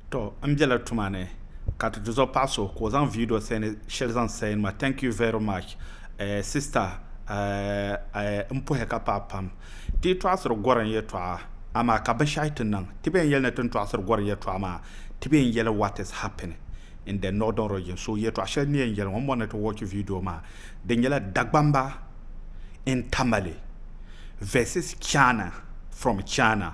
To n bela tuma ni ka ti tizɔ paɣa so ka o zaŋ video sani shɛli zaŋ sain ma thank you very much sister n puhi ka paɣi pam ti yi tɔɣisiri gorim yɛtɔɣa amaa ka binshɛɣu ti niŋ ti bɛn yɛli ni tin tɔɣisiri gorim yɛtɔɣa maa ti bɛn yɛli what is happening in the northern region so yɛtɔɣa shɛli ni yɛn yɛli ŋɔ m bɔri ni ti watch video maa di nyɛla Dagbamba in Tamale versus Chana from Chana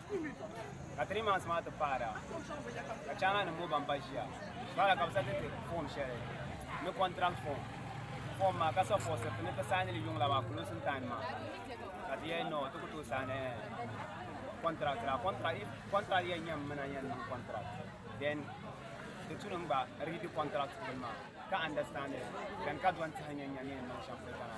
ka three months maa ti paara ka chaana nim ŋɔ ban ba ʒiya paara ka bi sa titi form shɛli ni contract form form maa ka suppose ti ni ti saini li yuŋla maa closing time maa ka ti yɛn no ti ku tooi saini contract la contract if contract yɛn nyɛ mina yɛn niŋ contract then ti tu nim gba read contract nim maa ka understand it then ka dɔn tihi nyɛ nyɛ ni yɛn niŋ shɛm polo kana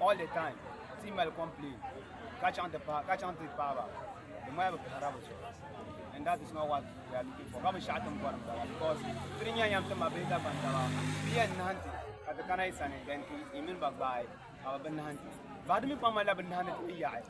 All the time ti mali complain ka chaŋ ti pahi ka chaŋ ti paaba di maya bi pahara bi zuɣu and that is not what we are looking for ka bi shɛɣu tin bɔri bala because tiri nyɛ yɛm ti ma bihi dagban taba bi yɛn nahanti ka ti kana yi sani then ti yi mini ba gbaai ka bi bi nahanti but di mi kpaŋ malila bi nahanti ti mi yaɣi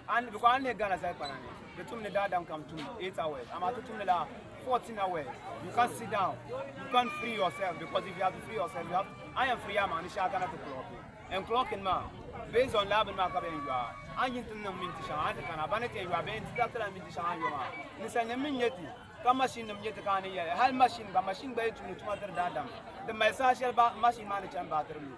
An bɛ kɔɣa ni Ghana zali kpana ni di tum ni daadam kam tum 8 hours amaa ti tumdi la 14 hours you can't sit down you can't free yourself because if you have to free yourself you have I am free ama ni shɛŋa kana ti clock and clocking maa based on laa bini maa ka bɛ yɛn yɔa a yin ti niŋ minti shɛŋa a ti kana ba ni ti yɛn yɔa bɛ yɛn distract la minti shɛŋa a yɔ maa ninsali nim mi nyɛ ti ka machine nim nyɛ ti ka a ni yɛli hali machine gba machine gba yɛn tumdi tuma tiri daadam di mali saha shɛli ba machine maa ni chani baatiri lu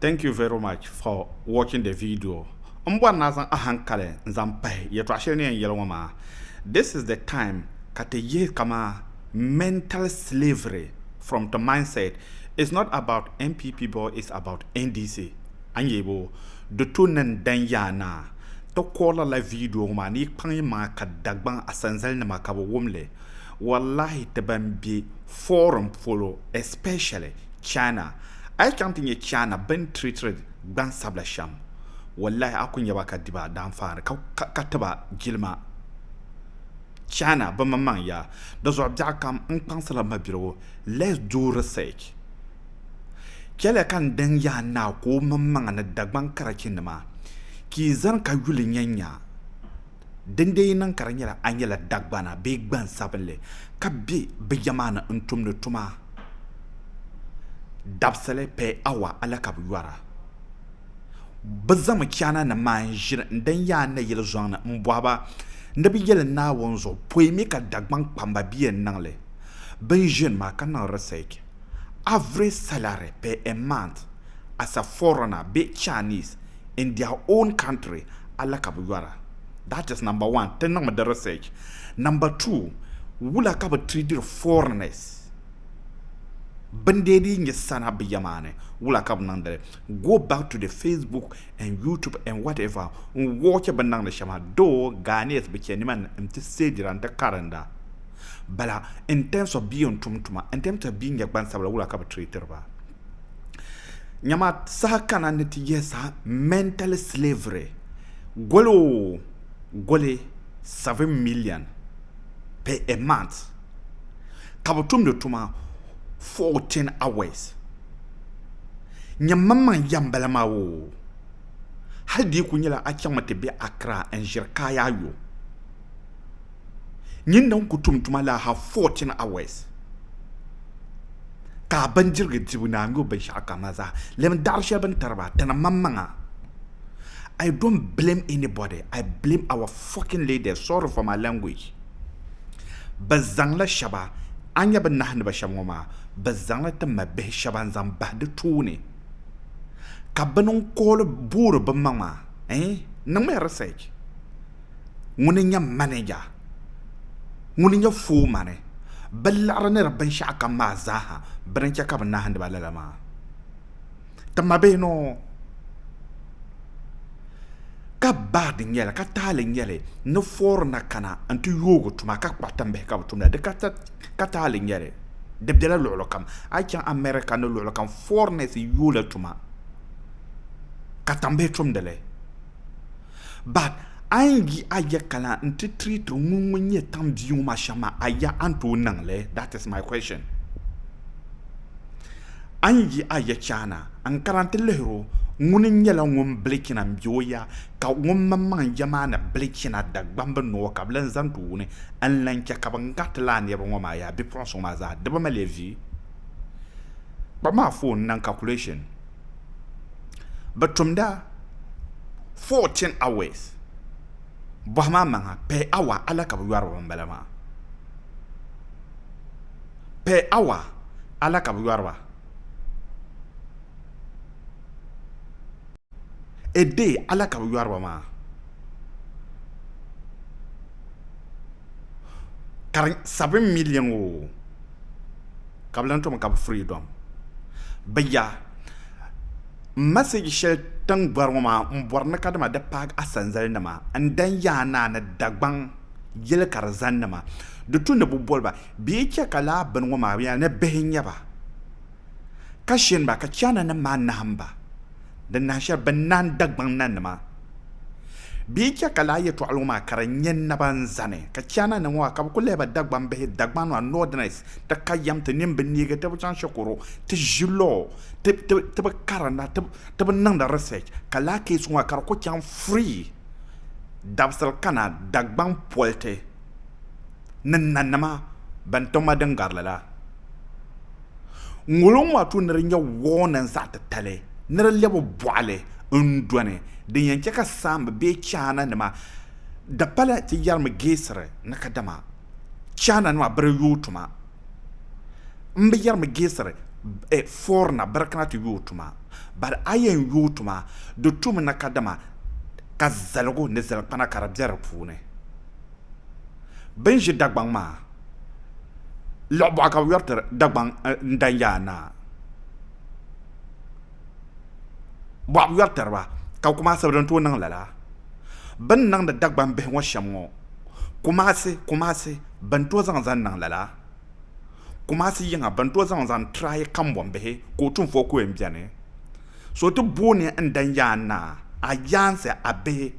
Thank you very much for watching the video N bɔri ni a zaŋ ahankali n zaŋ pahi yɛltɔɣa shɛli ni yɛn yɛli ŋɔ maa This is the time ka ti yihi kaman mental slavery from ti mindset It's not about NPP but it's about NDC A ni yɛi boo? Di tu ni n dan yaa ni a ti kɔri lala video ŋɔ maa ni yi kpaŋ yi maŋa ka Dagbaŋ asanzali nima ka bɛ wum li Wallahi ti ban be foreign polo especially China a yi chaŋ ti nya China bɛn treatiri gbansabila shɛm wallahi a ku nya ba ka di ba daanfaani ka ti ba jilima China bɛ maŋmaŋ ya di zuɣu biɛɣu kam n kpaŋsila mabiligu let's do research chɛliya ka n daŋ ya a naa ka o maŋmaŋa ni Dagbaŋ karachi nima ka yi zani ka yuli nyanya Din dee yi niŋ ka di nyɛla a nyɛla Dagbana bee gbansabinli ka be bɛ ya maa ni n-tumdi tuma, dabisili per hour alakabi yɔra. Bɛ zaŋmi Chaananim maa n-ʒiri n-dan ya a nayili zɔŋ ni m-bɔhi ba ni bɛ yeli Naawuni zuɣu poi mi ka Dagbaŋ kpamba be yɛn niŋ li bini ʒini maa ka niŋ research. Average salary per a month as a foreigner bee Chinese, in their own country ala ka bi yɔra that is number one ti niŋmi di research number two wula ka bi treatir foreigners bin dee dii nyɛ sana bi ya maa ni wula ka bi niŋdili go back to the facebook and youtube and whatever n watch bin niŋdi shɛma though Ghanaians bi chɛ niman n ti seedira n ti karinda bala in terms of bee n tum tuma in terms of bee nyɛ gbansabila wula ka bi treatir ba Nyama saha kana ni ti yihi saha mental slavery goli o goli seven million per a month ka bi tumdi tuma fourteen hours nyam maŋmaŋ ya n bala maa oo hali di yi kuli nyɛla a chaŋmi ti be Accra n ʒiri kaayaayɔ Nyinda n-ku tum tuma laa hal fourteen hours ka a bindirigu dibu ni a nyubu binshɛɣu kam maa zaa lɛm daɣiri shɛli bɛ ni tari ba tana maŋmaŋa. I don't blame anybody, I blame our fucking leaders, sorry for my language. Bɛ zaŋla shɛba, a ni nya bɛ nahi ni ba shɛm ŋɔ maa, bɛ zaŋla ti ma bihi shɛba n-zaŋ bahi di tooni ka bini n-kooli boori bimaŋa eh? Niŋmiya research. ŋuni n-nyɛ manija, ŋuni n-nyɛ foomani, bɛ liɣiri ni di binshɛɣu kam maa zaaha bɛ ni chɛ ka bɛ nahindi ba lala maa. Ti ma bee ni o ka bad n-nyɛ li, ka taali n-nyɛ li ni foori na kana n-ti yoogi tuma ka kpuɣi timbihi ka bɛ tumda, di ka taali n-nyɛ li, di bela luɣili kam. A yi chaŋ America ni luɣili kam foreigners yoola tuma ka tambihi tumdi li. But a yi yi a ya ka la n ti treat o ŋun ŋun nyɛ tiŋ bia ŋɔ maa shɛm maa a ya a ni tooi niŋ li? That is my question. A ni yi a ya chaana n kana n ti lihiri o ŋuni n nyɛla ŋun bili china m be o ya ka ŋun mini maŋ n ya maa ni bili china Dagbambi noo ka bɛ lan zaŋ ti wuni n lan chɛ ka bɛn gariti lala niriba ŋɔ maa yaa bipuɣinsi ŋɔ maa zaa di bɛ mali ya vi? Kpab maa phone n niŋ calculation. bɛ tumda 14 hours bɔhim a maŋa per hour a la ka bɛ yɔri ba ban bala maa per hour a la ka bɛ yɔri ba a day a la ka bɛ yɔri ba maa ka di 7 million oo ka bi lan tom ka bi freedom bi ya message shɛli tin bɔri ŋɔ maa n bɔri ni ka dama di paagi asanzali nima n dan yaa naa ni Dagbaŋ yɛli ka di zani nima di tu ni bi boliba bɛ yi chɛ ka laa bini ŋɔ maa yɛli ni bihi n nyɛba ka shini ba ka China nim maa nahim ba Di nahi shɛli bɛ ni nahin Dagbaŋ nanima. Bɛ yi chɛ ka lala yɛtɔɣa ŋɔ maa ka di nyɛ naba n-zani, ka Chaana nim ŋɔ maa ka bɛ kul lehi ba Dagbaŋ bihi, Dagbaŋ maa, Northerners, ti ka yɛm, ti nini bi neegi, ti bi chaŋ shikuru, ti ʒi law, ti, ti, ti bi karinda, ti, ti bi niŋdi research, ka lala case ŋɔ maa ka di ku chaŋ free dabisili kana Dagbaŋ politi ni nanima bɛn ti ma din gari li la. Ŋoliŋ maa tu ni di nyɛ wɔɔnin zaɣ titali ni di lɛbi bɔɣili n dɔni din yɛn chɛ ka saamba bee chaana nima di pala ti yɛrimi geesiri ni kadama chaana nima bi di yooi tuma n bi yɛrimi geesiri fɔrina bi di kana ti yooi tuma bari a yɛn yooi tuma di tumi ni kadama ka zaligu ni zalikpana ka di bɛ di puuni. Bɛ ni ʒi Dagbaŋ maa, Lɔɣubɔɣu ka bɛ yɔri tiri Dagbaŋ ni Danyaa Naa. Bɔɣu bi yɔri tiri ba, ka bɛ Kumaasi bi din tooi niŋ lala. Bɛ ni niŋdi Dagbaŋ bihi ŋɔ shɛm ŋɔ, Kumaasi, Kumaasi bɛ ni tooi zaŋ zaŋ niŋ lala. Kumaasi yiŋa bɛ ni tooi zaŋ zaŋ tiraayi kambɔnbihi ka o tunfo ku yɛn beni. So ti booni n Danyaa Naa, a yaansi a bihi.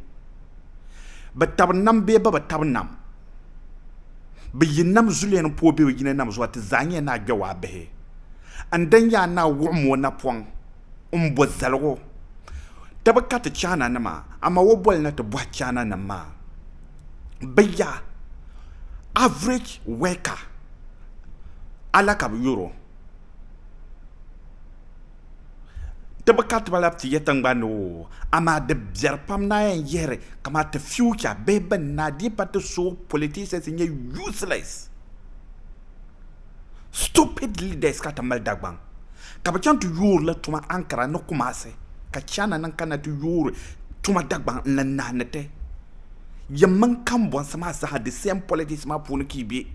Bɛ tab nam bee bɛ bi tab nam, bɛ yi nam zuliya ni pooi be bɛ yina nam zuɣu, ti zaa nyɛla naa gbɛwaa bihi. N dan yaa naa wuɣim o napɔŋ m-bo zaligu, ti bi ka ti chaananima, amaa o boli na ti bɔhi chaananim maa. Bɛ ya, average worker, a la ka bɛ yɔr o. Ti bi ka ti ba lab ti ya tiŋgbani ni o, amaa di biɛri pam ni a yɛn yihiri kamaa ti future bihi bɛn na dii pa ti so politicians n-nyɛ useless, stupid leaders ka ti mali Dagbaŋ ka bi chaŋ ti yoori la tuma Ankara ni Kumasi ka China nim kana ti yoori tuma Dagbaŋ n-lan nahi ni ti yɛn mini kambɔnsi maa zaa the same politics maa puuni ka yi be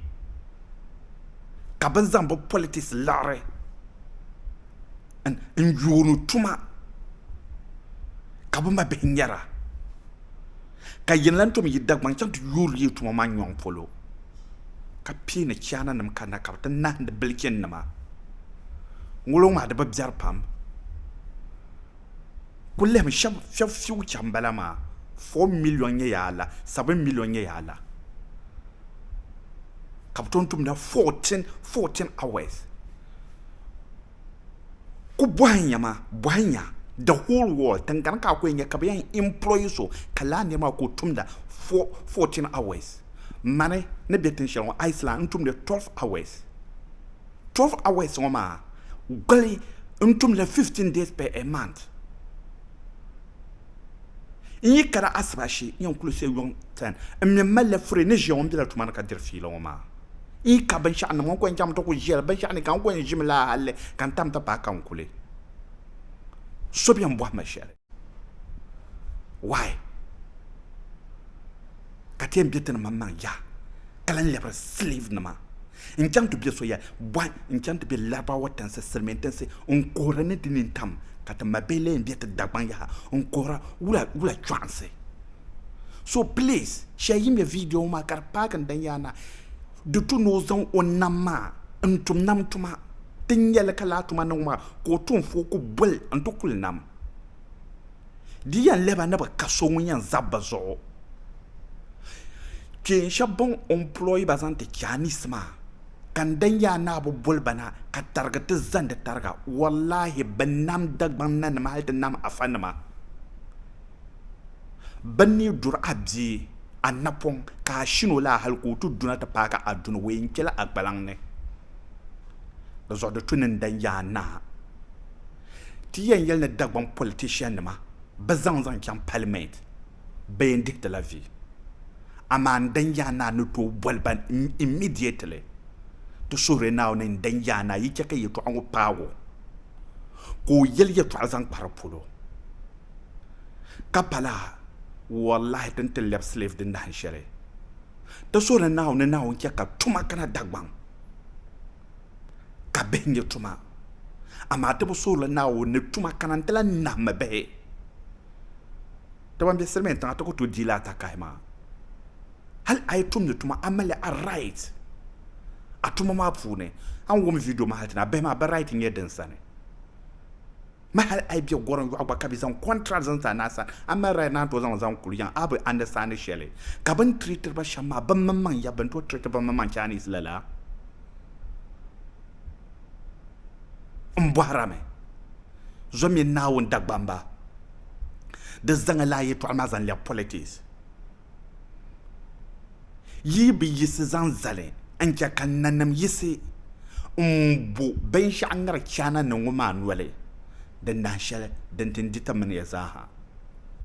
ka bɛ zaŋ bɛ politics liɣiri. n yuuni tuma ka bi ma bihi nyɛra ka yin lan tom yi Dagbaŋ chaŋ ti yuuri yi tuma maa nyɔŋ polo ka pii ni chaana nim kanna ka bi ti nahindi bilichin nima ŋulo ŋmaa di bi biɛri pam Ku lihimi shɛb fiu chaŋ m-bala maa, four million nyɛ yaa la, seven million nyɛ yaa la ka bɛ tooi tumda fourteen, fourteen hours. Ku bɔhi nya maa, bɔhi nya the whole world tiŋgbani ka a ku yɛn nya ka bɛ yɛn employ so ka lala niri maa ka o tumda four, fourteen hours. Mani ni be tin shɛli ŋɔ Iceland n-tumdi twelve hours. 12 hours ŋɔ maa gbali n tumli 15 days per a month n yi kana asibashi n yɛn kuli sɛ yuŋ 10 n mi malila furi ni ʒiya ŋɔ n bela tuma ni ka diri fiila ŋɔ maa n yi ka binshɛɣu nim ŋɔ n kɔŋ chaŋ mi ti kuli ʒiya la binshɛɣu ni ka n kɔŋ ʒimi laa halli ka n tam ti paai ka n kuli so bɛn bɔhi ma shɛli why ka ti yɛn bɛ ti ni maŋ maŋ yaha ka lan lɛbiri slave nima n chaŋ ti bɛ so ya bɔhi n chaŋ ti bɛ laribawa tinsi silmiin tinsi n kuhiri ni di nini tam ka ti ma bihi lee bɛ ti dagbaŋ yaha n kuhira wula wula chɔɣinsi so please shɛli yi ŋmɛ video ŋɔ maa ka di paaki n dan yaana di tu ni o zaŋ o nam maa n tum nam tuma ti nyɛli ka laa tuma niŋ maa ka o tuunfoo ku boli n ti kuli nam di yɛn lɛba ni bi ka so ŋun yɛn za bi zuɣu kpeen shɛba bin ɔmplɔyi ba zaŋ ti Chinese maa ka n dan yaa ni a bi boli ba na ka tarigi ti zandi tariga wallahi bi nam Dagbaŋ na nima hali ti nam Afa nima bin ni duri a bia a napɔŋ ka a shin o laa hali ka o ti duna ti paai ka a duni o yɛn kpeli a gbalaŋ ni di zuɣu di tu ni n dan yaa ni a Ti yɛn yɛli ni Dagbaŋ politician nima bi zaŋ zaŋ chaŋ parliament bɛ yɛn dihi ti la vi. Amaa n dan yaa naa ni tooi boli ba immediately. Ti suhiri Naawuni n dan yaa naa yi chɛ ka yɛtɔɣa ŋɔ paag o ka o yɛli yɛtɔɣa zaŋ kpari polo. Ka pala wallahi ti ni ti lɛbi slave din dahin shɛli. Ti suhiri Naawuni ni Naawuni chɛ ka tuma kana Dagbaŋ. ka bihi nyɛ tuma, amaa ti bi suhirili Naawuni ni tuma kana n-ti lahi nahimi bihi. Ti ban be silimin tiŋa ti ku tooi diila atakahi maa. Hali a yi tumdi tuma a mali a right a tuma maa puuni. A ni wum video maa hali ti ni a bihi maa bɛ right nyɛ din sani. Ma hali a yi be gorim yɔɣu gba ka bɛ zaŋ contract zaŋ ti a na sa, a mali right naan tooi zaŋ zaŋ kuli yaŋ a bi understand shɛli. Ka bɛ ni treatiri ba shɛm maa, bɛ mini maŋ ya bɛ ni tooi treat bɛ mini maŋ Chinese lala m-bɔhira mi. Zo mini Naawuni Dagbamba, di zaŋ a lahi yɛtɔɣili maa zaŋ lɛbi politics. Yi bi yiɣisi zaŋ zali n-chɛ ka nanim yiɣisi m-bo binshɛɣu ŋari chaana ni ŋɔ maa noli, di nahi shɛli din tin di ti mini ya zaa ha.